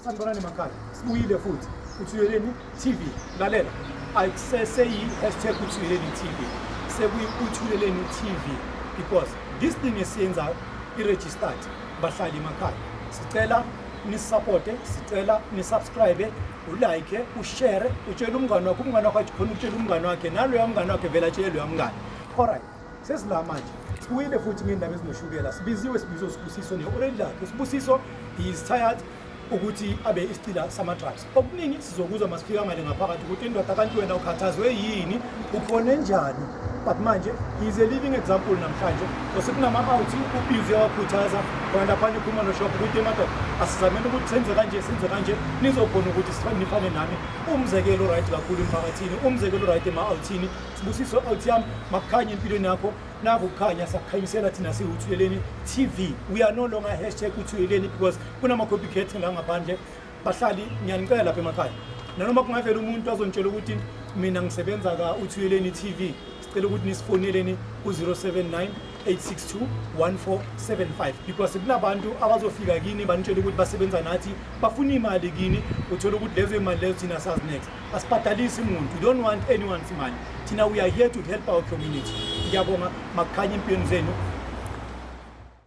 Sanibonani makhaya, sibuyile futhi uThuyeleni TV. Lalela, ayiseseyi-hashtag uThuyeleni TV, sekuyi-uThuyeleni TV because this thing esiyenzayo i-registered bahlali emakhaya. Sicela nisisapote, sicela nisubscribe ulike ushere utshele umngane wakho umngane wakho athi khona utshele umngane wakhe naloya mngane wakhe vele atshele loya mngane alright sesila manje sibuyile futhi ngendaba ezinoshukela sibiziwe sibizo sibusiso ne-orange lakhe sibusiso is tired ukuthi abe isicila sama-drugs okuningi sizokuzwa masifika ngale ngaphakathi ukuthi indoda kanti wena ukhathazwe yini ukhone njani but manje he's a living example namhlanje osekunama-out ubhizi yawakhuthaza kanti aphane iphuma noshop ukuthi emadoda asizamele ukuthi senze kanje senze kanje nizokhona ukuthi nifane nami umzekelo right kakhulu emphakathini umzekelo right ema-outhini sibusiso out yami makukhanye empilweni yakho naku kukhanya sakukhanyisela thina siwuthuyeleni tv we are no longer hashtag uthuyeleni because kunama-copycat langaphandle bahlali ngiyanicela lapha emakhaya nanoma kungavela umuntu azontshela ukuthi mina ngisebenza ka uthuyeleni TV sicela ukuthi nisifoneleni ku-079 862-1475 because kunabantu abazofika kini banitshela ukuthi basebenza nathi bafuna imali kini uthole ukuthi lezo imali lezo thina sazi next asibhadalisi muntu we don't want anyone's imali thina we are here to help our community ngiyabonga makukhanye empilweni zenu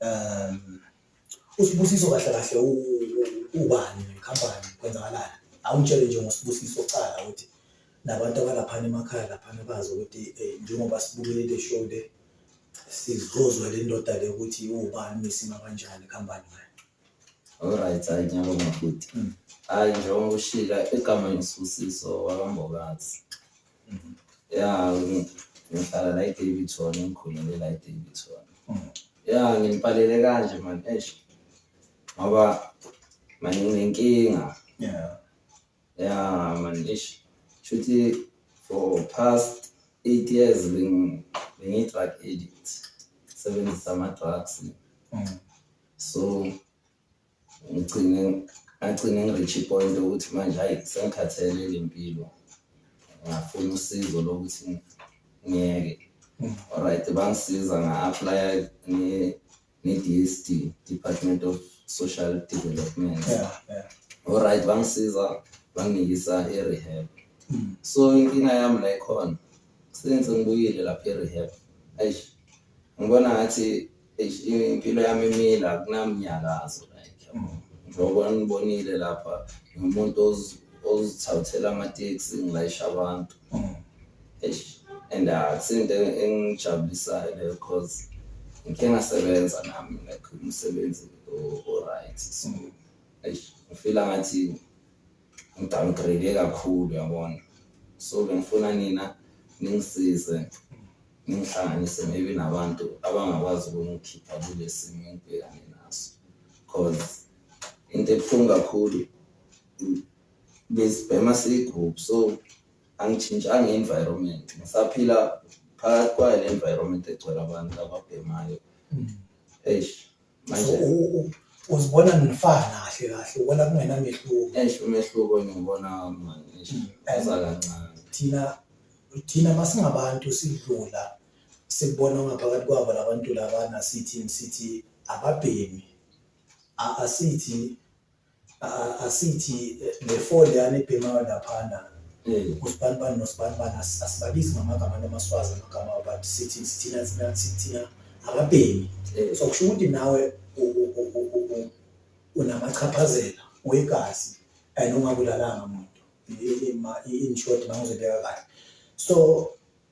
um usibusiso kahle kahle ubani nekhampani kwenzakalani awungitshele nje ngosibusiso cala ukuthi nabantu abalaphana emakhaya laphana bazi ukuthi eh, njengoba sibukele le show le sizozwa le ndoda le ukuthi ubani nesima kanjani ikhampani ngayo Alright, hayi ngiyabonga futhi. Hmm. Hayi njengoba ushila igama ngisusiso wakambokazi. ya ngihlala la eDavidson engikhulele la eDavidson ya ngilipalele kanje mani eish ngoba mani nginenkinga yeah ya mani eish shuthi for past eight years bengiyi-drug addict sebenzisa ama-drugs mm. so ngigcine ngagcine ngi-reach i-point ukuthi manje hhayi sengikhathele le mpilo ngafuna usizo lokuthi ngiyeke alright bangisiza nga-aplaya ne-DSD Department of Social Development Yeah, yeah. alright bangisiza banginikisa i-rehab Mm. so inkinga yami la ikhona since ngibuyile lapha e-rehab eish ngibona ngathi Eish, impilo yami imile akunamnyakazo like yabo. njengoba nibonile lapha ngiwumuntu ozi- ozithathela amateksi ngilayisha abantu Eish, and akusinto engijabulisayo leyo cause ngikhe ngasebenza nami like umsebenzi o- o-right so eish, ngifila ngathi ngidowngrade kakhulu yabona so bengifuna nina ningisize ngihlanganise maybe nabantu abangakwazi ukungikhipha kule simo engibhekane naso cause into ebuhlungu kakhulu besibhema siyigroup so angitshintshanga i-environment ngisaphila phakathi kwayo le environment egcwele abantu ababhemayo mm. eish Manje So, u- u- uzibona nifana kahle kahle ubona kungenamehluko eish umehluko ngiwubona manje eish Mm. uza kancane. thina thina masingabantu sidlula sikubona ngaphakathi kwabo labantu labana sithi sithi ababhemi A- asithi asithi eh, le four leyana ebhemayo laphana mm. usibanibani nosibanibani asibabizi ngamagama namaswazi amagama but sithi sithina thina sithina ababhemi mm. so kusho ukuthi nawe unamachaphazela wegazi and ungabulalanga muntu in short mangizobeka kahle so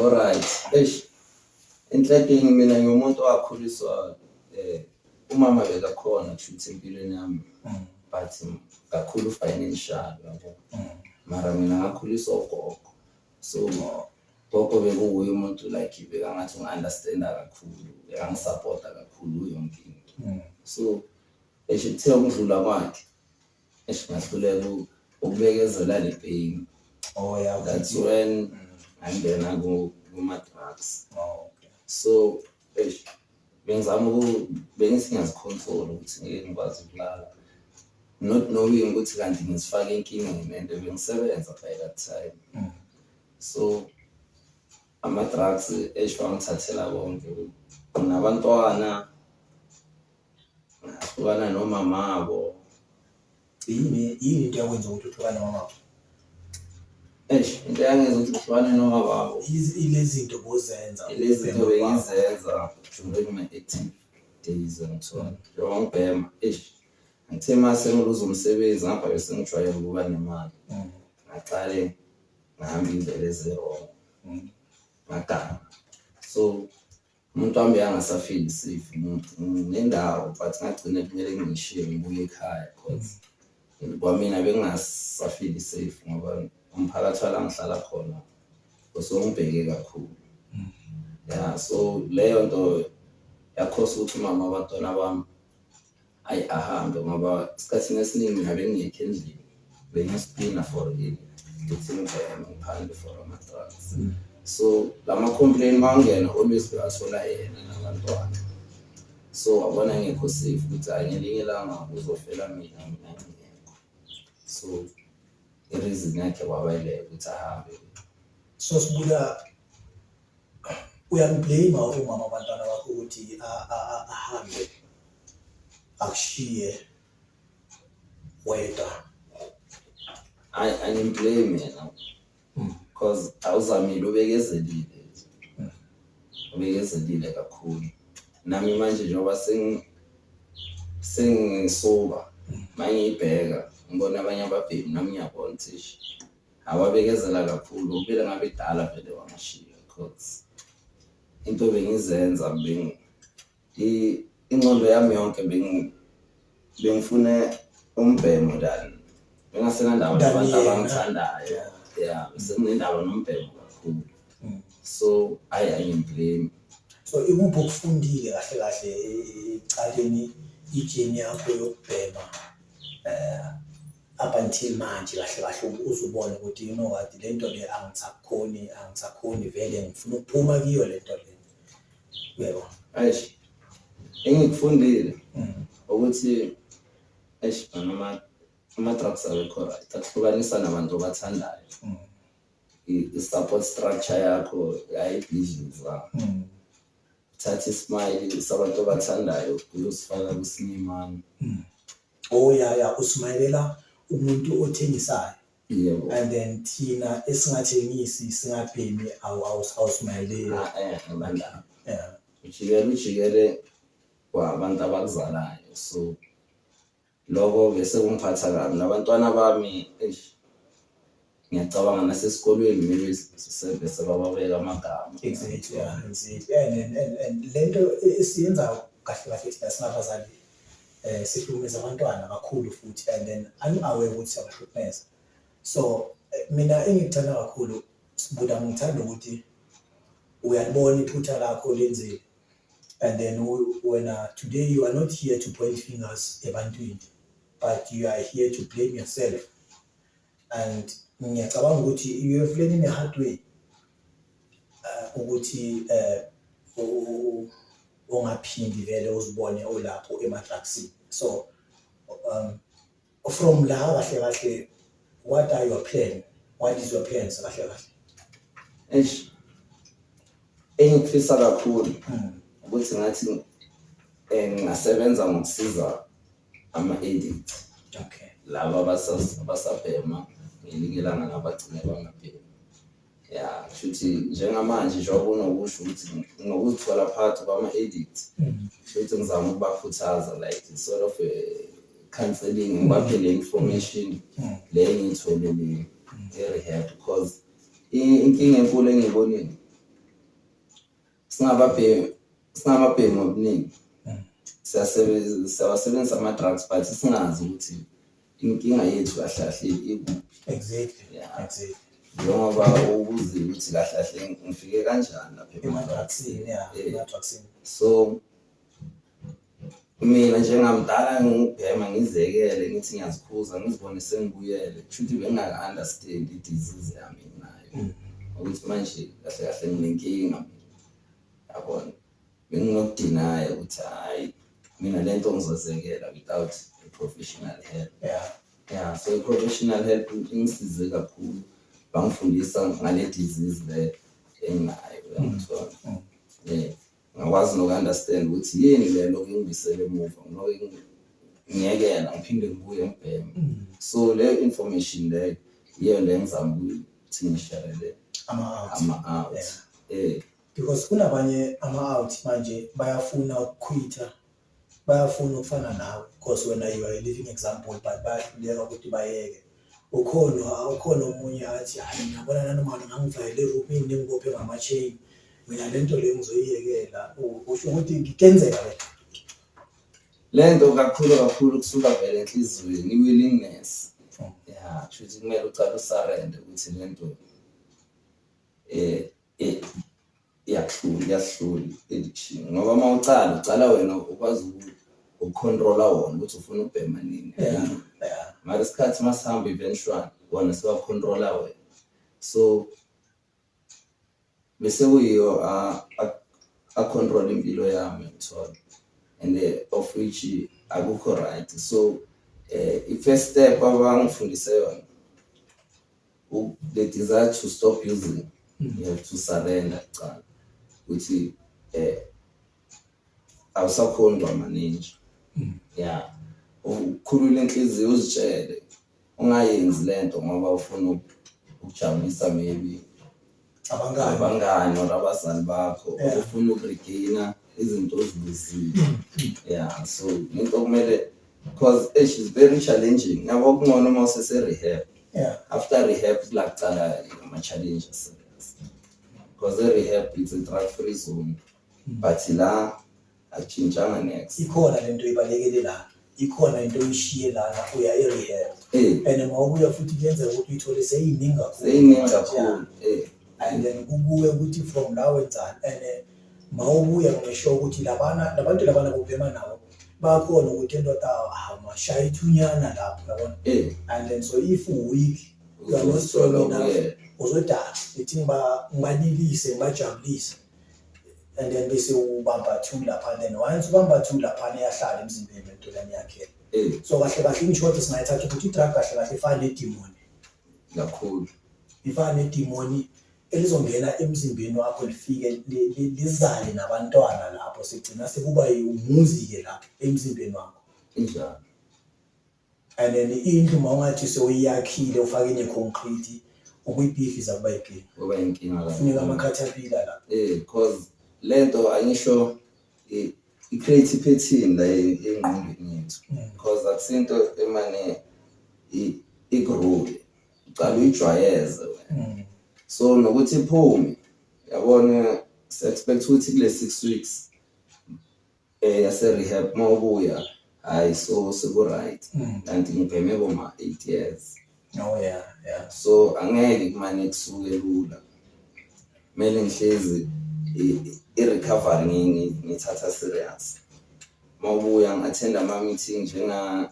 Alright. Eish. Enhlekeni mina ngiwumuntu owakhuliswa eh umama bekakhona kushuthi empilweni yami Mm. but kakhulu financial yabo. Mm. Mara mina ngakhuliswa ugogo. So gogo bekuwuye umuntu like bekangathi unga-understanda kakhulu, bekangisapota kakhulu yonke into. Mm. So esho kuthiwa ukudlula kwakhe Eish ngahluleka u- ukubekezela le pain. Oh yeah. That's when ngangena ku- kuma-drugs. Oh, okay. So eish bengizama uku bengithi ngiyazicontrol ukuthi ngeke ngikwazi ukulala. Not knowing ukuthi kanti ngisifake enkingeni and bengisebenza by that time. Mm. So ama-drugs eish bangithathela konke. Nabantwana Hlukana nomamako. Yini yini into yakwenza ukuthi uhlukane nomamako? Eish, into yangenza ukuthi uhlukane nomamako. Yizi- Ilezi zinto bozenza. Ilezi zinto ubhema ubaba. bengizenza during my active days angithona. Njengoba ngibhema, eish, ngithe uma sengiluza umsebenzi ngapha bese ngijwayele ukuba nemali. Mm, Ngaqale ngihamba indlela ezi-wrong. mm. ngaganga so Umuntu wami bekangasafili safe nendawo but ngagcine kumele ngishiye ngibuye ekhaya cause kwamina bekungasafili safe ngoba umphakathi wala ngihlala khona usongibheke kakhulu. Ya so leyo nto yakhosa ukuthi umama wabantwana bami Ayi ahambe ngoba esikhathini esiningi ngabe ngingekho endlini bengispina for in ngithini ngibhekene ngiphandle for ama-drugs so la ma-complain mawangena always bewathola yena nabantwana so wabona ngekho safe ukuthi hhayi ngelinye ilanga uzofela mina mina ngingekho so ireason yakhe wabayileka ukuthi ahambe so sibuya uyamblame umama wabantwana bakho ukuthi ahambe akushiye wedwa hayi angimblame yena hmm. cause awuzamile ubekezelile hmm. ubekezelile kakhulu nami manje njengoba sengisuka hmm. mangiyibheka ngibona abanye ababhemi nami ngiyabona ukuthi awabekezela kakhulu ngokubile ngabe idala vele wangishiya cause into bengizenza beng ingqondo yami yonke beng bengifune umbhemo than bengasenandaba nabantu abangithandayo ya senginendaba nombhemo kakhulu mm. so ayi ayimblame so ikuphi okufundile kahle kahle ecaleni ijeni yakho yokubhema um up until manje kahle kahle uze ubone ukuthi you know what le nto le angisakhoni angisakhoni vele ngifuna ukuphuma kiyo le nto le yebo eish engikufundile mm. ukuthi eish noma ama-drugs awekho right akuhlukanisa nabantu obathandayo mm. i-support structure yakho ayibhizinisi wakho mm. thatha isimile sabantu obathandayo kuzosifaka kusinyimani oh ya ya usmayela umuntu othengisayo yebo and then thina esingathengisi singabhemi awu- awu- awusmayeleli Ah, eh, bandla Yeah. ujikele ujikele kwabantu abakuzalayo so lokho ke sekungiphatha kabi nabantwana bami eish Ngiyacabanga nasesikolweni kumele sisebenze sebababeka amagama. Exactly, yeah, exactly. Yeah, and, and, and le nto esiyenza kahle kahle thina singabazali eh sihlukumeza abantwana kakhulu futhi and then angi-aware ukuthi siyabahlukumeza so eh, mina engikuthanda kakhulu sibuda ngithanda ukuthi uyalibona iphutha lakho lenzile and then u- wena today you are not here to point fingers ebantwini but you are here to blame yourself and ngiyacabanga ukuthi you have learned in a hard way uh, ukuthi um ungaphindi vele uzibone olapho emadrugsini so um, from la kahle kahle what are your plan what is your plans kahle kahle eish engikufisa kakhulu hmm. ukuthi ngathi um ngingasebenza ngokusiza ama-addict okay laba abasabhema ngelinye ilanga nabagcine bangabhemi ya kushuthi njengamanje njengoba unokusho ukuthi nokuzithola phakathi kwama-addict mm. kushuthi ngizama ukubakhuthaza like sort of a counseling ngibaphe le information mm. le engiyitholelile mm. e-rehab because inkinga enkulu engiyibonile singababhemi singababhemi ngobuningi siyasebenzisa siyawasebenzisa ama-drugs but singazi ukuthi inkinga yethu kahle kahle ikuphi exactly Yeah. exactly njengoba ubuzile ukuthi kahle kahle ngifike kanjani lapha ema-drugsini ema-drugsini ya Eh. ema-drugsini so Mina njengamdala ngingubhema ngizekele ngithi ngiyazikhuza ngizibone sengibuyele kushuthi bengingaka-understand i-disease yami enginayo mm. ukuthi manje kahle kahle nginenkinga yabona benginokudinaya ukuthi hhayi mina le nto ngizozekela without a professional help yeah. yeah so i-professional help ingisize kakhulu bangifundisa ngale disease le enginayo yangithola mm. um mm. Ngakwazi noku-understand ukuthi yini le lokhu ingibisela emuva, ngilokhu ingi- ngiyekela ngiphinde ngibuye ngibheme. So le information le yiyo le engizama ukuthi ngishere le ama-out ama-out. Yeah. Eh, because kunabanye ama-out manje bayafuna ukukhwitha bayafuna ukufana nawe because wena you are a living example but bayahluleka ukuthi bayeke ukhona ukhona omunye athi hayi ngiyabona nanoma ngangivayele eroomini nengibophe ngama-chain mina le nto leyo ngizoyiyekela usho ukuthi ngikenzeka le le nto kakhulu kakhulu kusuka vele enhliziyweni i-willingness oh. ya kushuthi kumele ucala usarende ukuthi le nto um iyakuhlula iyahlula edition ngoba uma ucala ucala wena ukwazi ukucontrola wona ukuthi ufuna ubhema nini mara isikhathi uma sihamba eventually wona siwacontrola wena so bese kuyiyo acontrol impilo yami ngithola and eh, of which akukho right so um i-first step abangifundise yona the desire to stop using mm. you have to surrender kuqala ukuthi eh awusakhondwa maninja mm. yeah ukhulule inhliziyo uzitshele ungayenzi lento ngoba ufuna ukujabulisa maybe abangani abangani or abazali bakho Yeah. ufuna ukuregaina izinto ozibuzile yeah so into okumele because eh, she's very challenging yabo kungcono uma usese-rehab yeah after rehab kula kuqala ama-challenge aserious because e-rehab it's a drug free zone but la Achintshanga next. ikhona lento ibalekele la ikhona into oyishiye lana uya e-rehab Eh, and uma ubuya futhi kuyenzeka ukuthi uyithole seyiningi kakhulu seyiningi kakhulu. Eh, and then kukuwe ukuthi from la wenzani and eh, ma ubuya ngisho ukuthi labana labantu labana bobhema nabo bakhona ukuthi endoda amashaya ithunyana lapho yabona eh, and then so if week uzosoloko yena. uzodala ithi ngiba- ngibanilise ngibajabulise and then bese ubamba two lapha then once ubamba two lapha eyahlala emzimbeni lentolane yakhe eh. so kahle kahle inshoti singayithatha ukuthi i-drug kahle kahle ifana nedimoni kakhulu ifana nedimoni elizongena emzimbeni wakho lifike lizale nabantwana lapho sigcina sekuba umuzi-ke lapho emzimbeni wakho injalo and then indlu uma ungathi sewuyakhile ufake ne-concrete ukuyibhidliza kuba yinkinga kuba yinkinga la funeka amakhathapila la eh cause lento angisho i-create i-pattern la engqondweni yethu mm. cause akusinto emane igrule uqala uyijwayeze mm. so nokuthi iphume yabona si-expect ukuthi kule six weeks eh yase rehab mawubuya hayi so siku right Mm. kanti ngibheme koma 8 years Oh yeah, yeah. so angeke kumane kusuke lula kumele ngihlezi i- i-recovery ngi- ngi- ngithatha serious mawubuya ngi-attend ama-meeting njenga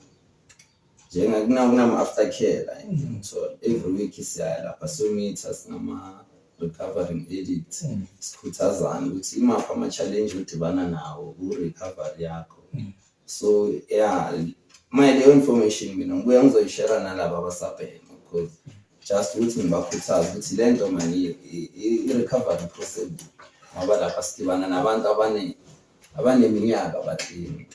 Njengakuna-after care la endlini uthole every week siyaya lapha siyomitha singama-recovering addict sikhuthazane ukuthi imaphi ama-challenge odibana nawo ku-recovery yakho so ya maye leyo information mina ngibuya ngizoyishera nalaba abasabhema because just ukuthi ngibakhuthaze ukuthi le nto mani i-recovery possible ngoba lapha sidibana nabantu abaningi abaneminyaka baklini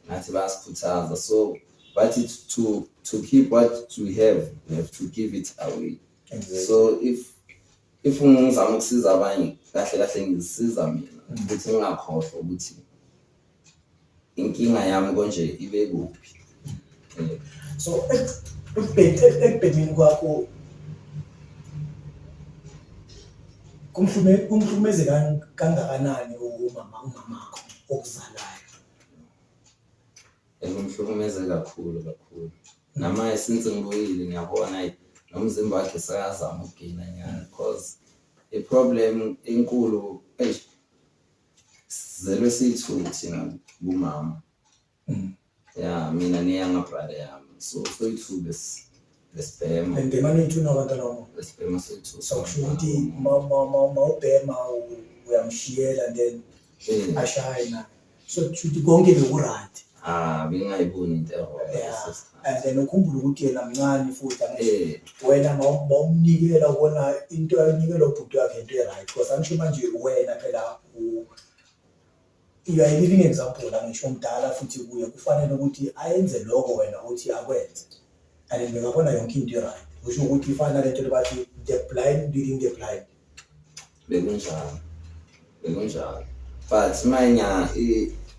ngathi bayasikhuthaza so bathi to to keep what we have we have to give it away exactly. so if if ngizama ukusiza abanye kahle kahle ngizisiza mina mm. ukuthi ngingakhohlwa ukuthi inkinga yami konje ibe kuphi eh. so ekubhekeni kwakho kumhlukumeze kangakanani umama umamakho okuzalayo Ngimhlukumeze kakhulu kakhulu. Namanje since ngibuyile ngiyabona ayi nomzimba wakhe sekazama ukugina nyana cause i-problem enkulu eyi sizelwe siyi-two thina kumama. Ya mina neyanga-brother yami so soyi-two lesi. lesibhema ayibhema nethuna abantwana wami lesibhema sethu so kusho ukuthi ma- ma- ma- ma ubhema u- uyamshiyela then Eh, ashaye na so kusho ukuthi konke bekurayt ah bengingayiboni into ewrong Yeah. leso sikhathi. and then ukhumbule ukuthi yena mncane futhi angisho Eh, wena ma- ma umnikela ubona into ayinikelwa ubhuti wakhe into e-right because angisho manje wena phela u- You are a living example la ngisho omdala futhi kuye kufanele ukuthi ayenze lokho wena uthi akwenze. And ngingabona yonke into right. Kusho ukuthi ifana lento lebathi the blind leading the blind. Bekunjalo. Bekunjalo. But manya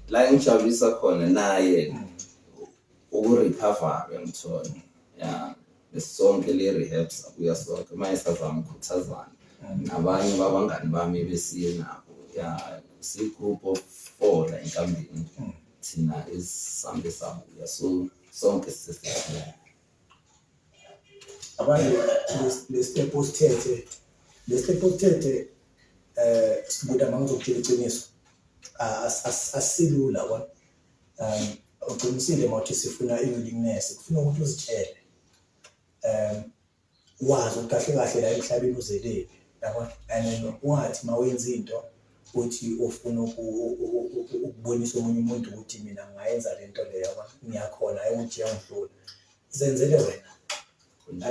la engijabulisa khona naye mm. ukurecover ngimthole. Yeah. sonke le rehab sabuya sonke uma esazama ukukhuthazana nabanye babangani bami besiye nabo ya si-group of four la enkambini thina esisambe sabuya so sonke sisesithile abanye lesitepu osithethe lesitepu osithethe um eh, sikuda uma ngizokutshela iqiniso asilula kona um uqinisile mawuthi sifuna i-willingness kufuna ukuthi uzitshele um wazi ukuthi kahle kahle la emhlabeni uzelele yabo and wathi mawenza into uthi ufuna ukubonisa omunye umuntu ukuthi mina ngayenza le nto leyo ngiyakhona ayi ukuthi yangihlula zenzele wena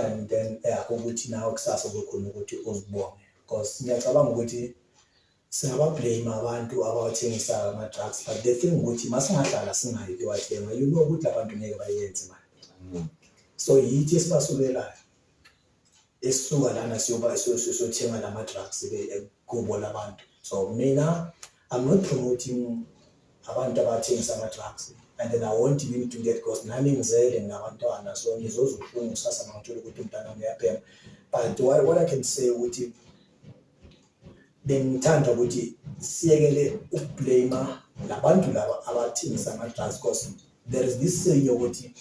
and then yakho ukuthi nawe kusasa kukhona ukuthi uzibonge because ngiyacabanga ukuthi Singaba blame abantu abawathengisayo ama drugs but the thing ukuthi masingahlala singayi kuyowathenga you know ukuthi abantu ngeke bayenze manje. Mm. So yithi esibasukelayo. Esisuka lana siyoba siyothenga lama drugs eh, kubo labantu. So mina I'm not promoting abantu abathengisa ama drugs and then I want him to get because nami ngizele nginabantwana so ngizozwa ubuhlungu kusasa mangithola ukuthi umntana wami uyabhema but what, what I can say ukuthi bengithanda ukuthi siyekele ukublame labantu laba abathengisa ama-drugs cause there is this saying yokuthi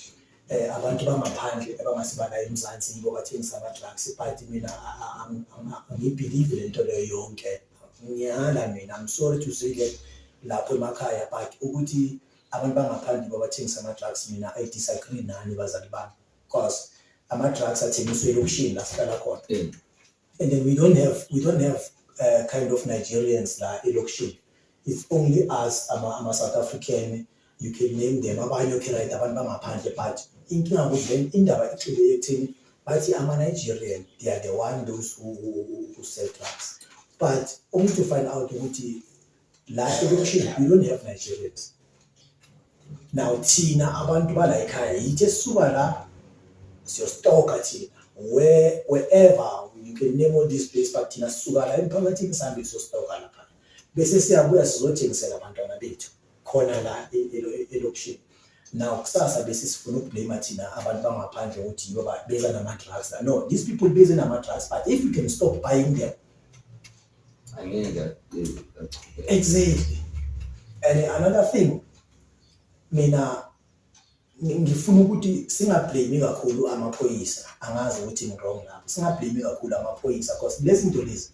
eh abantu bangaphandle abangasibala eMzansi yibo bathengisa ama-drugs but mina angibelieve le nto leyo yonke ngiyala mina i'm sorry to say that lapho emakhaya but ukuthi abantu bangaphandle yibo abathengisa ama-drugs mina i disagree nani bazali bami cause ama-drugs athengiswe elokishini la sihlala khona And then we don't have we don't have uh, kind of Nigerians la elokishini. It's only us ama, ama South African you can name them abanye okay right abantu bangaphandle but inkinga ukuthi then indaba ixile ekuthini bathi ama Nigerian they are the one those who, who, who, who sell drugs. But only to find out ukuthi la elokishini you don't have nigerians now thina abantu bala ekhaya yithi esisuka la siyostoka thina where wherever you can name all these places but thina sisuka la emphakathini sihambe siyostoka lapha bese siyabuya sizothengisela abantwana bethu khona la e-, e-, elokishini now kusasa bese sifuna ukublame thina abantu bangaphandle ukuthi yibo beza nama-drugs no these people beze nama-drugs but if you can stop buying them Exactly. And another thing mina ngifuna ukuthi singablame kakhulu amaphoyisa angazi ukuthi ngirong lapho singablame kakhulu amaphoyisa because lezi zinto lezi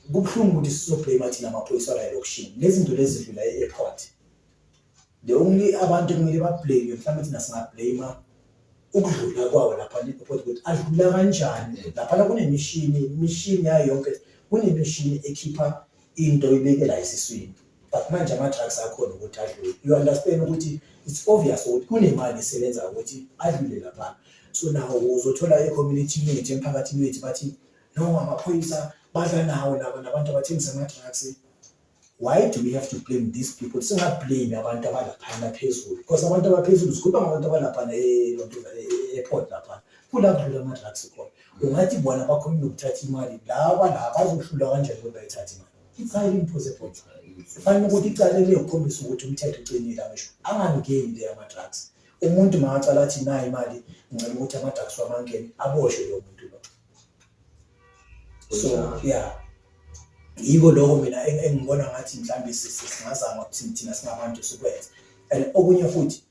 kubuhlungu ukuthi sizoblame thina amaphoyisa alokishini lezi zinto lezi zidlula e-airport The only abantu kumele bablame mhlawumbe thina singablame ukudlula kwawo lapha neport ukuthi adlula kanjani laphana kunemishini imishini yayo yonke kunemishini ekhipha into ibekela esiswini but manje ama-drugs akhona ukuthi adlule you understand ukuthi it's obvious ukuthi kunemali esebenza ukuthi adlule laphana so nawo uzothola e-community yethu emphakathini wethu bathi no amaphoyisa badla nawo laba nabantu abathengisa ama-drugs why do we have to blame these people singablame abantu abalaphana phezulu because abantu abaphezulu sikhuluma ngabantu abalaphana e-airport laphana kula kudlula ama-drugs khona ungathi bona bakhona nokuthatha imali laba la bazohlula kanjani ukuthi bayithathe imali it's highly impossible kufanele ukuthi icala liyokhombisa ukuthi umthetho ucinile angisho angangeni le ama-drugs umuntu makacala athi nayo imali ngicela ukuthi ama-drugs wamangeni aboshwe lo muntu so yeah yiko lokho mina engibona ngathi mhlawumbe singazama ukuthi thina singabantu sikwenze and okunye futhi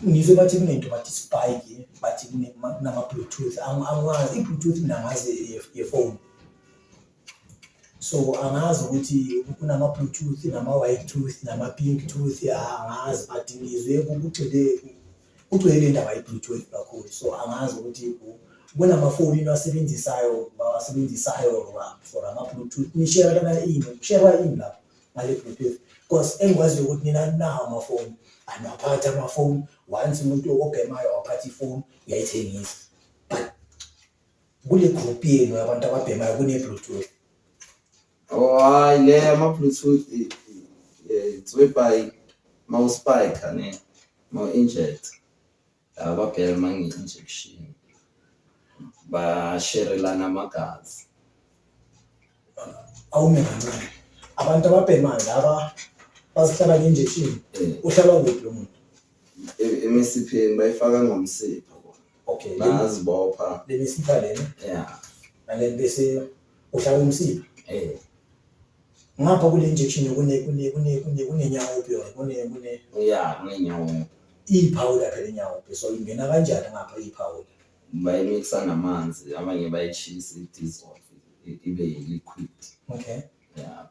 ngizwe bathi kunento bathi spike bathi kunama-bluetooth angazi i-bluetooth mina ngazi yefoni so angazi ukuthi kunama-bluetooth nama-white tooth nama-pink tooth angazi but ngizwe kugxile kugcwele le ndaba ye-bluetooth kakhulu so angazi ukuthi ubona amafoni into asebenzisayo bawasebenzisayo for ama-bluetooth nishera lana ini kusherwa ini lapho ngale bluetooth because engikwaziyo ukuthi nina nawo amafoni anaphatha amafoni once umuntu obhemayo waphatha ifoni uyayithengisa but kule group yenu yabantu ababhemayo kune-bluetooth Oh hayi le ama bluetooth tswepai mouse spike ne mo inject laba girl mangi injection ba sherelana amagazi awume kancane abantu ababhemayo laba bazihlaba nge-injection eh. uhlalwa kuphi lo muntu e-, emisipheni bayifaka ngomsipha okay bazibopha lemisipha lena ya nale bese uhlala umsiba eh ngapha kule injection kune kune kune kune kunenyawo opio kune kune ya kunenyawo iphawula phela inyawo opio so ingena kanjani ngapha iphawula bayimixa namanzi abanye bayishisa idizol ibe yi-liquid okay ya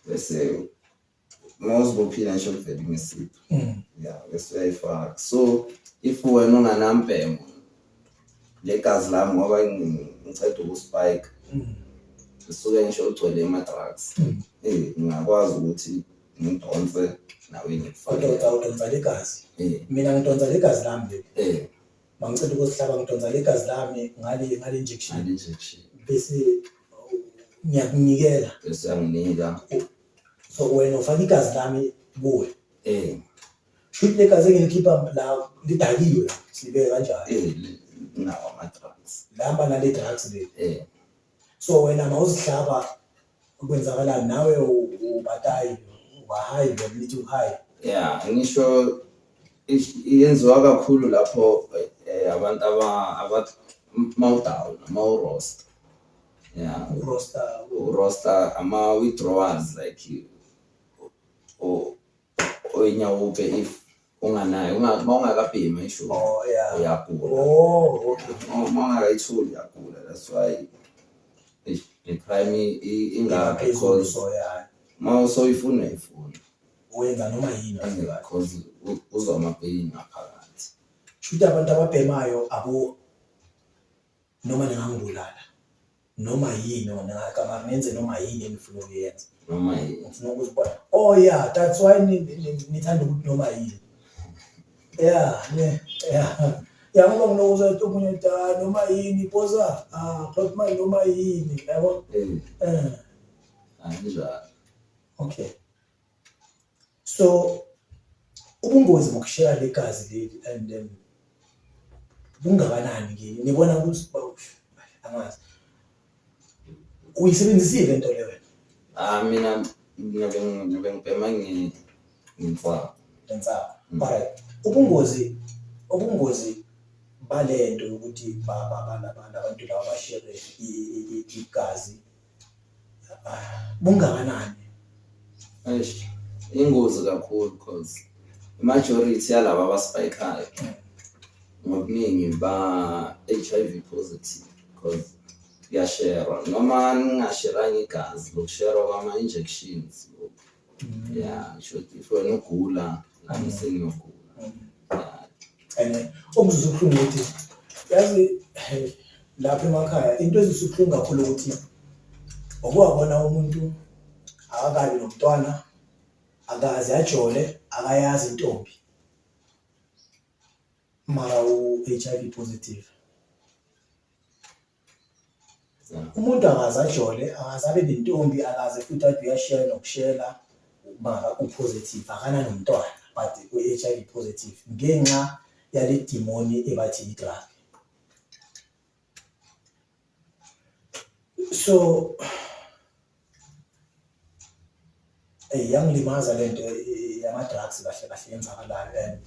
bese mawuzibophile ngisho kuvela imisipha mm. ya bese uyayifaka so if wena unganambhemo legazi lami ngoba ngiceda ukuspike mm. ngisuke ngisho ugcwele ama-drugs mm. eh, ngingakwazi ukuthi ngidonse nawe ngikufakudonsa legazi eh. mina ngidonsa legazi lami leli eh. mangiceda ukuzihlaba ngidonsa legazi lami ngale injection bese ngiyakunikela bese anginika so wena ufake igazi lami kuwe eh shuthi legazi engilikhipha la lidakiwe la sibeke kanjalo eh nawo ama drugs lamba nale drugs le eh so wena mawuzihlaba kwenzakalani nawe ubatayi ubahayi ngelithi uhayi yeah ngisho yenziwa kakhulu lapho eh, abantu aba mawudown mawurosta yeah uroster uroster ama withdrawals like o oyinyawope if unganayo uma ungakabhemi isho oh yeah uyagula oh okay uma ungakayitholi uyagula that's why the crime ingakho because uma usoyifuna ifuna wenza noma yini because uzwa amapain ngaphakathi shuthi abantu ababhemayo abo Noma ningangibulala noma yini wena ngicabanga ngenze noma yini engifuna ukuyenza noma yini ngifuna ukuzibona oh yeah that's why ngithanda ukuthi noma yini yeah ne yeah ya ngoba ngilokuza ukuthi omunye da noma yini poza ah but my noma yini yabo eh, eh. anjalo okay so ubungozi bokushela legazi leli and then bungakanani kini nibona ukuthi angazi uyisebenzisile into le wena ah mina ngibe ngibe ngibhema ngimfaka ngimfaka mm. alright ubungozi ubungozi balento yokuthi baba bana abantu laba bashere igazi bungakanani eish ingozi kakhulu because majority yalaba abasipayikayo ngobuningi ba HIV positive because kuyasherwa noma ningasheranga igazi lokusherwa kwama injections Yeah, shuthi if wena ugula, nami sengiyogula. Yeah. and eh, okuzwisa ubuhlungu ukuthi yazi hey, lapha emakhaya into ezwisa ubuhlungu kakhulu ukuthi okuwabona umuntu akakabi nomntwana akaze ajole akayazi intombi mara u-h i v positive Umuntu akaze ajole, akaze abe nentombi, akaze futhi athi uyashela nokushela ukuba u-positive, akananomntwana but u-H_I_V positive ngenxa yale dimoni ebathi yi-drug. So Eyi yangilimaza le nto yama-drugs kahle kahle yenzakalayo and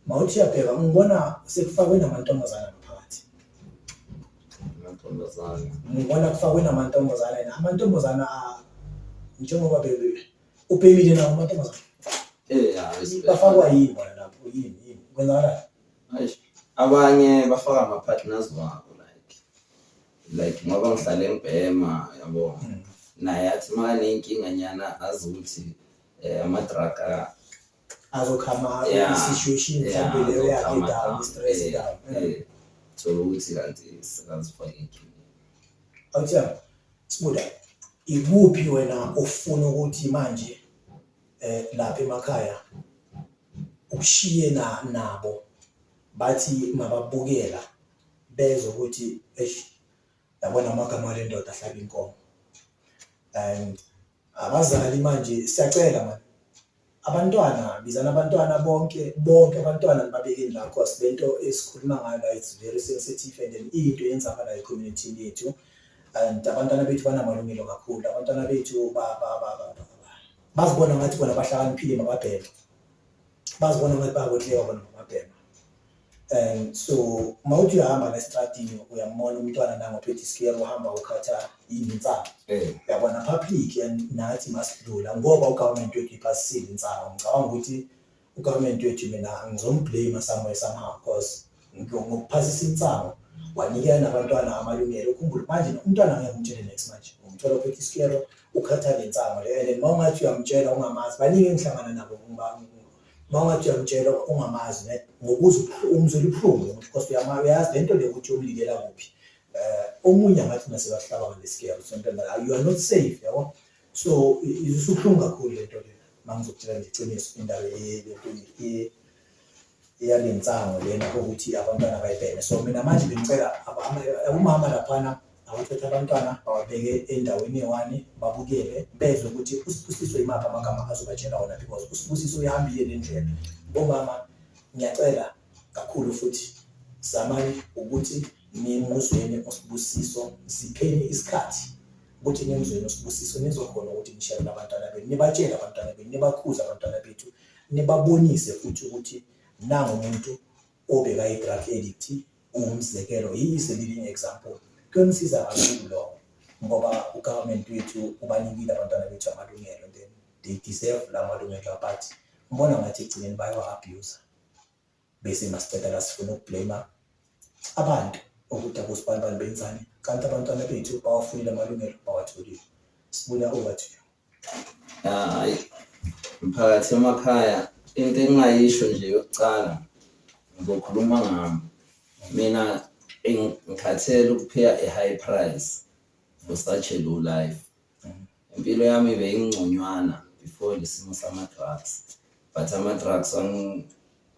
mawuthi uyabheka ngibona sekufakwe namantombazana ngaphakathi amantombazane ngibona kufakwe namantombazana and amantombazana a- njengoba bebe ubhekile nawo amantombazana Eh, ya, respect. bafakwa yini bona lapho yini yini kwenzakalani Eish, abanye bafaka ama-partners wabo like like ngoba ngihlale ngibhema yabo mm. naye athi makaneyinkinga nyana azi ukuthi um ama-drug azokhama i-situation mhlawumbe leyo yakhe down i-stress eh, down eh. thola ukuthi kanti sekazifake inkinga awuthiya sibuda ikuphi wena ofuna ukuthi manje um lapha emakhaya ukushiye nabo bathi mababukela bezwa ukuthi eish yabona amagama ale ndoda ahlaba inkomo and abazali manje siyacela manje abantwana bizana abantwana bonke bonke abantwana babekeni la cause lento esikhuluma ngayo la it's very sensitive and then into yenzakala ecommunity yethu and abantwana bethu banamalungelo kakhulu abantwana bethu bazibona ngathi bona bahlakaniphile mababheke bazibona ngathi bayakotleka bona mababheke Um so uma uthi uyahamba nestradini uyambona umntwana nangophethe isikero uhamba ukhatha insangu Eh. yabona public and nathi masidlula ngoba ugovernment wethu iphasisile insangu ngicabanga ukuthi ugovernment wethu mina ngizomblame somewhere somehow because ngiyo- ngokuphasisa insangu wanikela nabantwana amalungelo ukhumbule manje umntwana angeke umtshele next manje umthola ophethe isikero ukhatha le nsangu leyo and then uma ungathi uyamtshela ungamazi baningi engihlangana nabo ngoba uma ungathi uyamtshela ongamazi ne ngokuza umzwela ubuhlungu lo muntu because uyama uyazi le nto le ukuthi uyomlikela kuphi um omunye angathi nasebahlaba ngalesikeru something like you are not safe yabo so isubuhlungu kakhulu le nto le uma ngizokutshela nje iqiniso indaba lento eyalensango lena ukuthi abantwana bayibhene so mina manje bengicela umama laphana Awathathe abantwana bawabeke endaweni ewani babukele bezwe ukuthi uSibusiso yimaphi amagama azobatshela wona because uSibusiso uyihambile nendlela. Bomama ngiyacela kakhulu futhi zamani ukuthi nimuzweni uSibusiso, sipheni isikhathi ukuthi nimuzweni uSibusiso nizokhona ukuthi nisherele abantwana benu, nibatshele abantwana benu, nibakhuze abantwana bethu, nibabonise futhi ukuthi nangu umuntu obekayi-drug addict ungumzekelo he is a living example kuyomsiza kakhulu lokho ngoba ugovernment wethu ubanikile abantwana bethu amalungelo then they deserve la malungelo but ngibona ngathi ekugcineni bayawa-abuse bese masiceda la sifuna ukublame abantu ukuthi abosibanibani benzani kanti abantwana bethu bawafunile amalungelo bawatholile sibuya over to you Hayi mphakathi emakhaya into engingayisho nje yokucala ngizokhuluma ngami. Mina ngikhathele ukuphiya i-high price for such a low life. Impilo yami beyingconywana before le simo sama-drugs. but ama-drugs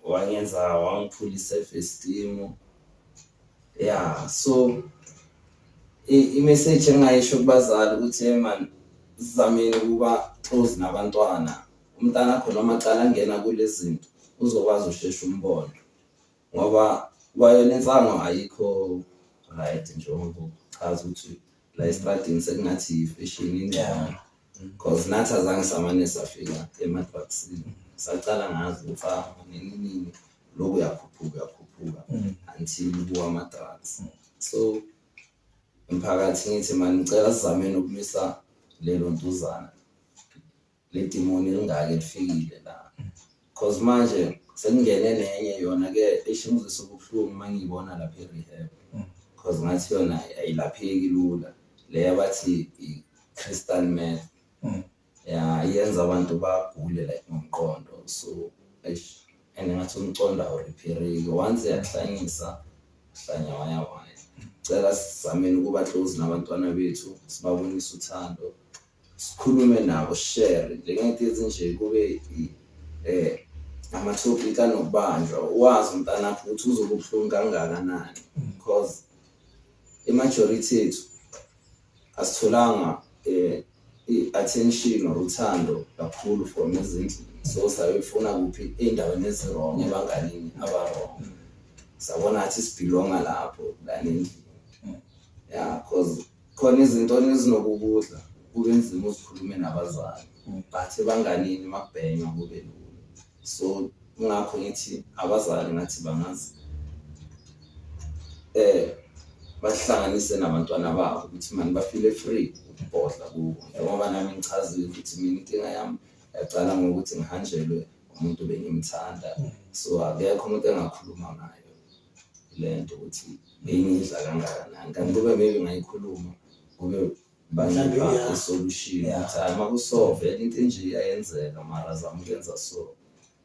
wangenza wangiphula i-self esteem ya so i-message engingayisho kubazali ukuthi hey man sizameni ukuba close nabantwana umntana akho noma cala angena kule zinto uzokwazi usheshe umbona ngoba kwayona insango ayikho right njengoba uchaza ukuthi la estradini sekungathi yifeshini incane cause nathi azange samane safika emadrugsini sacala ngazi ukuthi ah nini nini lokhu uyakhuphuka uyakhuphuka until kuwa ama-drugs so mphakathi ngithi mani ngicela sizameni ukumisa lelo ntuzana Le demon elingaka elifikile la. Cause manje sekungene nenye yona ke ishingizisa ubuhlungu uma ngiyibona lapha e-rehab. Cause ngathi yona ayilapheki lula. Le abathi i-crystal meth. Ya yenza abantu bagule like ngomqondo. So eish and ngathi umqondo awuriphereki. Once yakuhlanyisa hlanya waya waya. Cela sizameni ukuba close nabantwana bethu sibabonise uthando. sikhulume nabo share njengento ezinje kube eh ama-topic anokubanjwa wazi umntanakho ukuthi uzobe ubuhlungu kangakanani because i-majority ethu asitholanga um i-attention or uthando kakhulu from ezindlini so sayofuna kuphi ey'ndaweni ezirong ebanganini abarong sabona athi sibhilonga lapho lana endlini ya cause khona izinto ezinokukudla kube nzima uzikhulume nabazali but ebanganini makubhenywa kube lula so ngakho ngithi abazali ngathi bangazi eh bahlanganise nabantwana babo ukuthi mani bafile free ukubhodla kubo ngoba nami ngichazile ukuthi mina inkinga yami yaqala ngokuthi ngihanjelwe umuntu bengimthanda so akekho umuntu engakhuluma naye le nto ukuthi ngiyidla kangakanani kanti kube maybe ngayikhuluma kube banginika isolution ukuthi hayi makusove into enje iyayenzeka mara zama ukuyenza so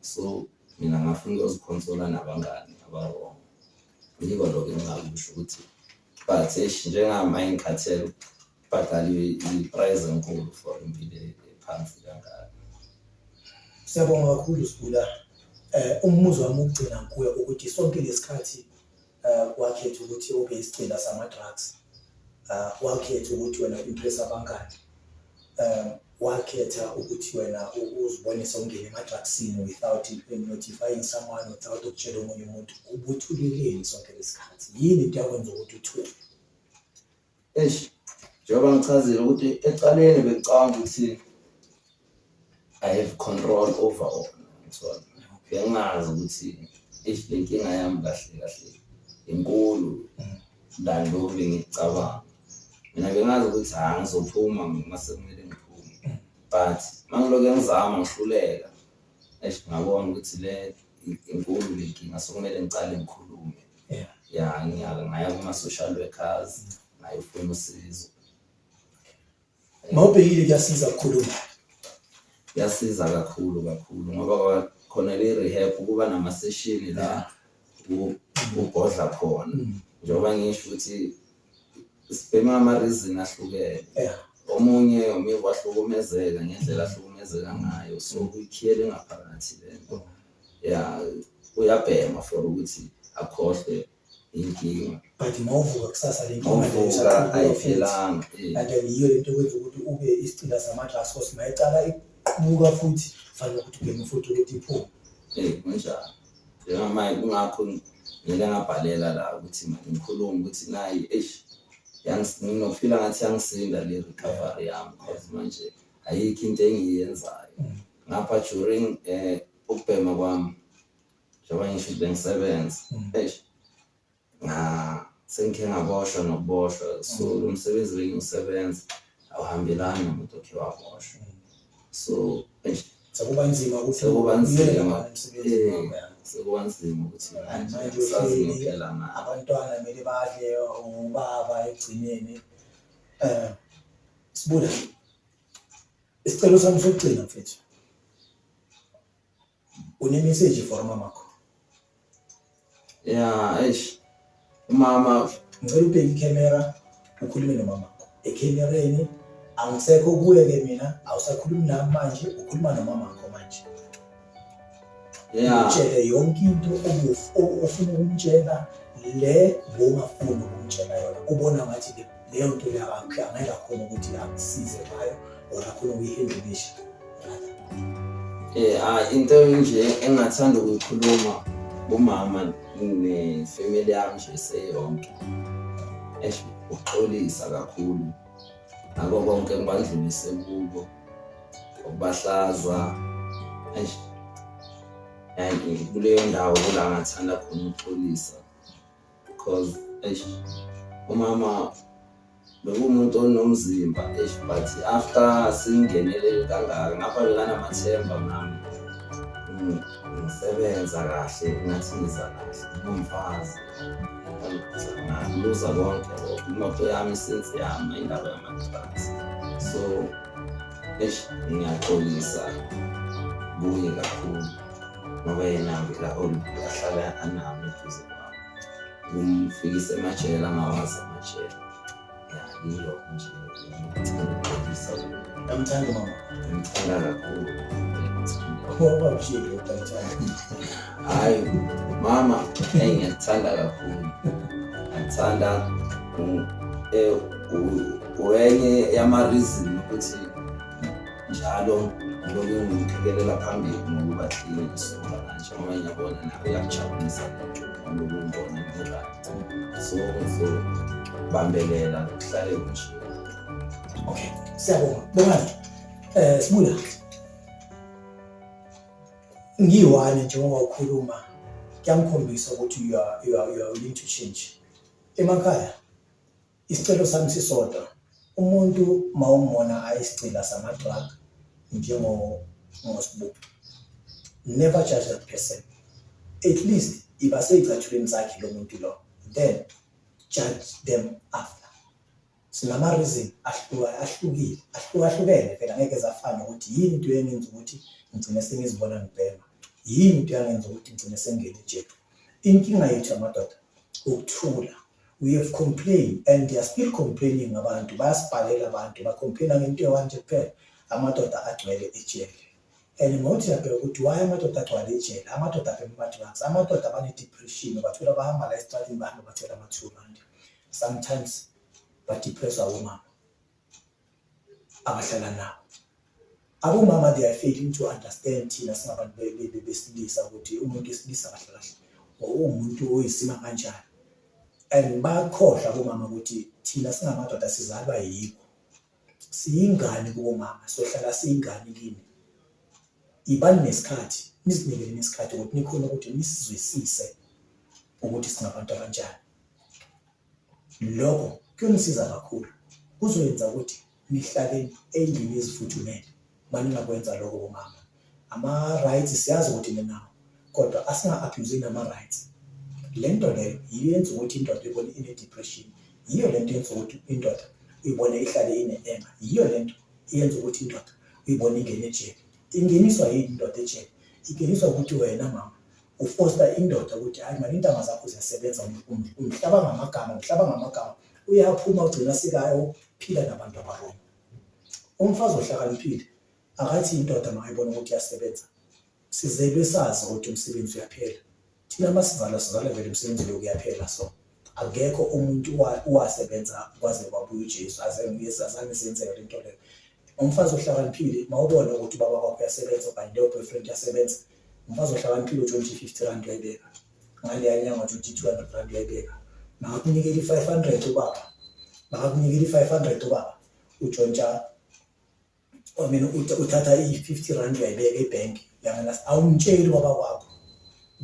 so mina ngafuna ukuyozikhonsola nabangani abarong yiko lokho engingakusho ukuthi but eish njengami ayingikhathele Badlali i-prize enkulu for impilo ephansi kangaka. Siyabonga kakhulu Sibula. Eh umbuzo wami ukugcina kuwe ukuthi sonke lesikhathi eh wakhetha ukuthi ube isigcina sama drugs. Eh wakhetha ukuthi wena impress abangani. Eh wakhetha ukuthi wena uzibonise ungene ema drugsini without notifying someone without ukutshela omunye umuntu ubuthuleleni sonke lesikhathi. Yini into yakwenza ukuthi uthuke? Eish, njengoba ngichazile ukuthi ecaleni bekucabanga ukuthi I have control over all. So, bengazi ukuthi eish le nkinga yami kahle kahle inkulu than lokhu bengicabanga. Mina bengazi ukuthi hhayi ngizophuma uma sekumele ngiphume. But uma ngilokhu ngizama ngihluleka, eish ngabona ukuthi le inkulu le nkinga sekumele ngicale ngikhulume. yeah. ya ngiyake ngaya kuma-social workers ngayofuna usizo mawubhekile kuyasiza kakhulu kuyasiza kakhulu kakhulu ngoba khona le rehab ukuba nama session la ubhodla khona mm. njengoba ngisho ukuthi sibhema ama reason ahlukene omunye ume wahlukumezeka ngendlela ahlukumezeka ngayo so kuyikhiyele ngaphakathi lento ya uyabhema for ukuthi akhohlwe inkinga but mawuvuka kusasa le nkinga leyo mawuvuka isaqhubeka futhi. ayiphelanga eh. kanti yiyo lento ekwenza ukuthi ube isicila sama-glass cos mayecala iqhubuka futhi fanele ukuthi ubheme futhi ukuthi iphume Eh, kunjalo njengamanje kungakho ngeke ngabhalela la ukuthi manje ngikhulume ukuthi nayi eish yangi- nginofila ngathi yangisinda le recovery yami cause manje ayikho into engiyenzayo ngapha during eh ukubhema kwami njengoba ngisho ukuthi bengisebenza eish nga sengikhe ngaboshwa nokuboshwa so lo msebenzi bengiwusebenza awuhambelani nomuntu okhe waboshwa so eish sekuba nzima ukuthi Sekuba nzima. uyeke manje umsebenzi eh, wakho, ya. sekuba nzima ukuthi Manje manje sazi uhleli, ngempela na abantwana kumele badle ubaba ekugcineni um Sibuya. Isicelo sami sokugcina mfethu. Une message for mama kho. Yeah, eish. Mama, ngicela ubheke ikhamera ukhulume nomama kho. Ekhamereni angisekho kuwe ke mina, awusakhulumi nami manje, ukhuluma nomama kho manje. yeah. utshele yonke into ofuna ukumtshela le ngongafuni ukumtshela yona ubona ngathi leyo nto angeke akhona ukuthi akusize ngayo or akhona ukuyihendlukisha eh, ah, into nje engathanda ukuyikhuluma kumama nefamily yami nje seyonke uxolisa kakhulu ngako konke engibandlulise kubo ukubahlazwa eish yayi kuleyo ndawo kula ngathanda khona ukuxolisa because eish umama bekuwumuntu onomzimba eish but after singenele kangaka ngapha bekanamathemba nami ngisebenza kahle ngathi ngiza kahle ngumfazi ngiluza konke lokho imoto yami since yama indaba yama-drugs so eish ngiyaxolisa kuye kakhulu ngoba yena ngila ahlala anami eduze kwami kumfikisa emajele angawazi amajele Namthanda mama. Ngimthanda kakhulu. Ngoba nje ngiyothatha. Hayi mama, hey ngiyakthanda kakhulu. Ngithanda eh uyenye yama reason ukuthi njalo ngilokhu ngimphikelela phambili ngokuba clean ngisonga kanje ngoba ngiyabona nawe yakujabulisa lento ngilokhu ngibona ngiba Zonke zonke. Bambelela kuhlale nje. Okay. Siyabonga. Bongani. Eh sibuya. Ngiyiwani njengoba ukhuluma kuyangikhombisa ukuthi you are you are you are willing to change. Emakhaya Isicelo sami sisodwa umuntu mawumona ayisigcila sama drug njengo ngosbuku never judge that person at least iba seyicathulweni sakhe lo muntu lo then judge them after sinama reason ahluka ahlukile ahlukahlukene phela ngeke zafana ukuthi yini into yengenza ukuthi ngigcine sengizibona ngibhema yini into yangenza ukuthi ngigcine sengingena ejele inkinga yethu amadoda ukuthula We have complain and they are still complaining abantu bayasibhalela abantu ba complaina ngento ewanje kuphela amadoda agcwele ejele and ngothi yabheka ukuthi why amadoda agcwale ejele amadoda abhema ama-drugs amadoda abane-depression bathola bahamba la esitratini bahamba bathola ama-two rand sometimes badepressa womama abahlala nabo abomama they are failing to understand thina singabantu besilisa ukuthi umuntu wesilisa kahle kahle uwumuntu oyisima kanjani and bakhohlwa abomama ukuthi thina singamadoda sizalwa yikho siyingane kubomama sohlala siyingane kini ibani nesikhathi nizinikele nesikhathi ukuthi nikhona ukuthi nisizwisise ukuthi singabantu abanjani Lokho kuyonisiza kakhulu. Kuzoyenza ukuthi nihlale endlini ezifuthumele uma ningakwenza lokho bomama. Ama-rights siyazi ukuthi ninawo kodwa asinga-abhuyuzi nama-rights. Le nto leyo yiyo yenza ukuthi indoda ibone ine-depression, yiyo le nto yenza ukuthi indoda uyibone ihlale ine-enga, yiyo le nto eyenza ukuthi indoda uyibone ingene ejele. Ingeniswa yini indoda ejele? Ingeniswa ukuthi wena mama ufosta indoda ukuthi hayi mani intanga zakho ziyasebenza um, um, umhlaba ngamagama umhlaba ngamagama uyaphuma ugcina sikayo phila nabantu abaroma umfazi ohlakaniphile akathi indoda makayibona ukuthi iyasebenza sizelwe sazi ukuthi umsebenzi uyaphela thina masizala sizala vele umsebenzi lo kuyaphela so Akekho umuntu owasebenza kwaze kwabuya uJesu aze ngibuye sazange senzeke le nto leyo. Umfazi ohlakaniphile mawubona ukuthi ubaba wakho uyasebenza okanye leyo boyfriend iyasebenza, umfazi ohlakaniphile u-twenty fifty rand uyayibeka ngaleya nyanga twenty two hundred rand uyayibeka makakunikela i-five hundred ubaba makakunikela i-five hundred ubaba utshontsha or mina uthatha i-50 rand uyayibeka ebhenki yangena awumtsheli kwaba kwakho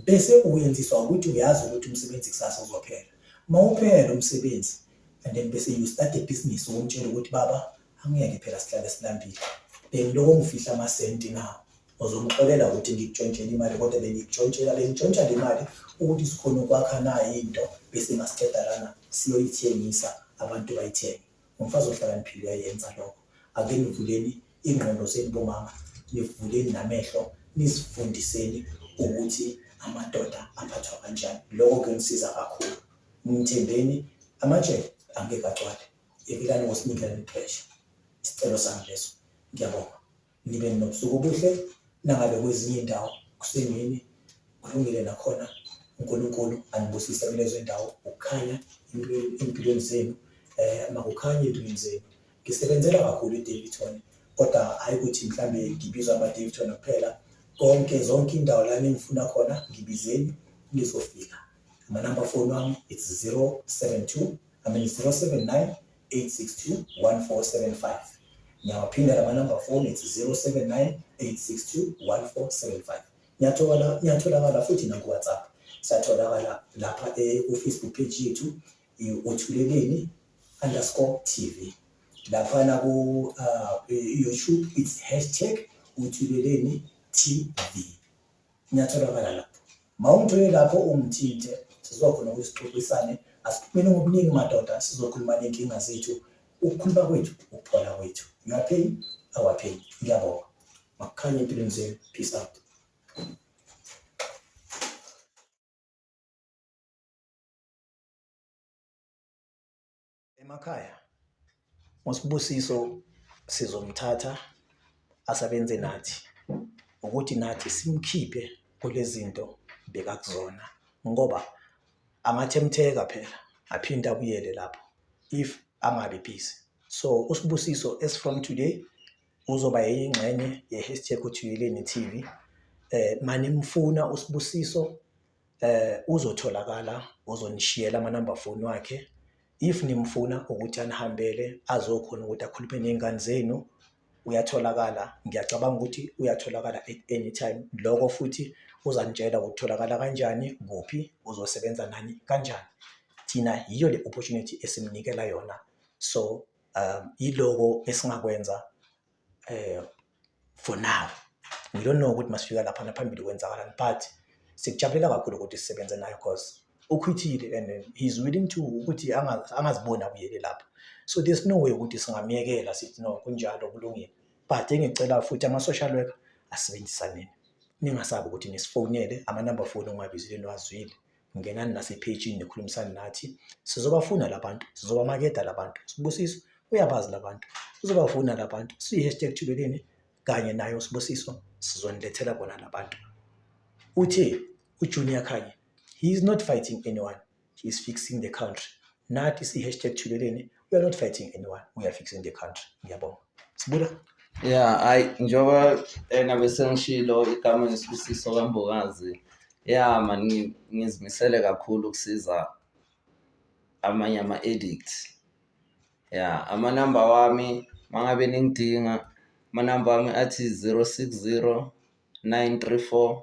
bese uyenziswa ukuthi uyazi ukuthi umsebenzi kusasa uzophela uma uphela umsebenzi and then bese you start a business ukumtshela ukuthi baba angiyeke phela sihlale silambile bengiloko ngifihla amasenti na uzomxolela ukuthi ngikutshontshele imali kodwa bengikutshontshela bengitshontsha le mali ukuthi sikhona ukwakha nayo into bese ngasiqeda lana siyoyithengisa abantu bayithenge Ngumfazi ohlakaniphile uyayenza lokho. Ake nivuleni ingqondo zenu bomama, nivuleni namehlo nizifundiseni ukuthi amadoda aphathwa kanjani. Lokho kuyonisiza kakhulu. Ngithembeni amajele angeke agcwale. Yekelani ukusinikela ipressure. Isicelo sami leso. Ngiyabonga. nibe nobusuku obuhle nangabe kwezinye indawo kusemini kulungile nakhona uNkulunkulu anibusise kulezo indawo ukukhanya empilweni zenu eh makukhanye empilweni zenu ngisebenzela kakhulu iDavidton kodwa hayi ukuthi mhlambe ngibizwa amaDavidton kuphela konke zonke indawo la ningifuna khona ngibizeni nizofika amanamba foni wami it's 072 I mean 079 8621475 ngiyawaphinda lama number phone it's 0798621475 ngiyathola ngiyatholakala futhi naku WhatsApp satholakala lapha e ku Facebook page yethu uthuleleni underscore TV lapha na ku uh, YouTube it's hashtag uthuleleni TV Ngiyatholakala lapho. Mawungithole lapho ungithinte sizokhona ukuthi sixoxisane asiphumele ngobuningi madoda sizokhuluma nenkinga zethu ukukhuluma kwethu ukuphola kwethu you are paying our pain ngiyabonga makukhanye empilweni zenu peace out Emakhaya uSibusiso sizomthatha asebenze nathi ukuthi nathi simkhiphe kulezinto bekakuzona ngoba angathemtheka phela aphinde abuyele lapho if angabi busy so uSibusiso as from today uzoba yingxenye ye-hashtag uthuyeleni TV eh manimfuna uSibusiso eh uzotholakala uzonishiyela ama number phone wakhe if nimfuna ukuthi anihambele azokhona ukuthi akhulume nezingane zenu uyatholakala ngiyacabanga ukuthi uyatholakala at any time lokho futhi uzanitshela ukutholakala kanjani kuphi uzosebenza nani kanjani thina yiyo le opportunity esimnikela yona so um iloko esingakwenza eh for now we don't know ukuthi masifika lapha naphambili kwenzakalani but sikujabulela kakhulu ukuthi sisebenze nayo because ukhwithile and then he's willing to ukuthi anga- angaziboni abuyele lapha so there's no way ukuthi singamyekela sithi no kunjalo kulungile but engicela futhi ama-social worker asebenzisaneni ningasabi ukuthi nisifonele amanamba foni ongiwabizile niwazwile ngenani nasephejini nikhulumisane nathi sizobafuna labantu sizobamakeda labantu sibusiso uyabazi labantu sizobafuna labantu siyi-hashtag thuleleni kanye nayo sibusiso sizonilethela bona labantu uthe ujunior khanye he is not fighting anyone he is fixing the country nathi siyi-hashtag thuleleni you are not fighting anyone we are fixing the country ngiyabonga sibuka yeah hayi njengoba ena bese ngishilo igama ngisibusiso kambokazi ya mani ngizimisele kakhulu ukusiza amanye ama-edict ya amanamba wami mangabe ningidinga amanamba wami athi 060 934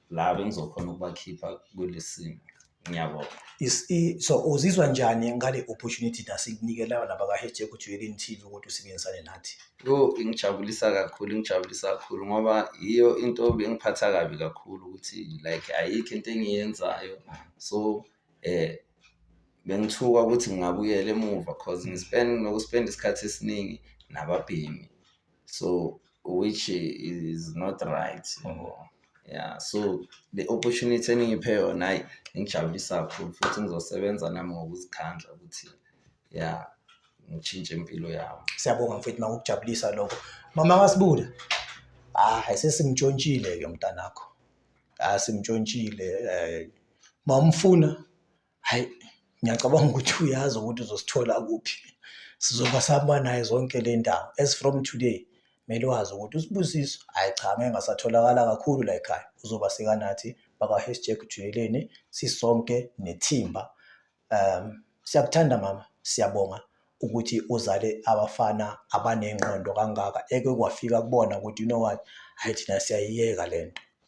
la bengizokhona ukubakhipha kulesi simo ngiyabonga Is- i- so uzizwa njani ngale opportunity nasikunikela nabaka-hashtag ujweleni tv ukuthi usebenzisane nathi yo ingijabulisa kakhulu ingijabulisa kakhulu ngoba yiyo into bengiphatha kabi kakhulu ukuthi like ayikho into engiyenzayo so eh bengithuka ukuthi ngingabuyela emuva cause ngispend nokuspenda isikhathi esiningi nababhemi so which is not right ngoba yeah so the opportunity eningiphe yona hayi ingijabulisa kakhulu futhi ngizosebenza nami ngokuzikhandla ukuthi yeah ngishintshe impilo yami siyabonga mfethu makukujabulisa lokho mama kasibuda ah sesimtshontshile ke mntanakho ah simtshontshile eh mawumfuna Hhayi, ngiyacabanga ukuthi uyazi ukuthi uzosithola kuphi. Sizoba sihamba naye zonke le ndawo. As from today, kumele wazi ukuthi uSibusiso, hhayi cha, ngeke ngasatholakala kakhulu la ekhaya. Uzoba sekanathi bakwa-hashtag Jweleni, sisonke nethimba. Um, siyakuthanda mama, siyabonga ukuthi uzale abafana abanengqondo kangaka eke kwafika kubona ukuthi you know what, hhayi thina siyayiyeka le nto.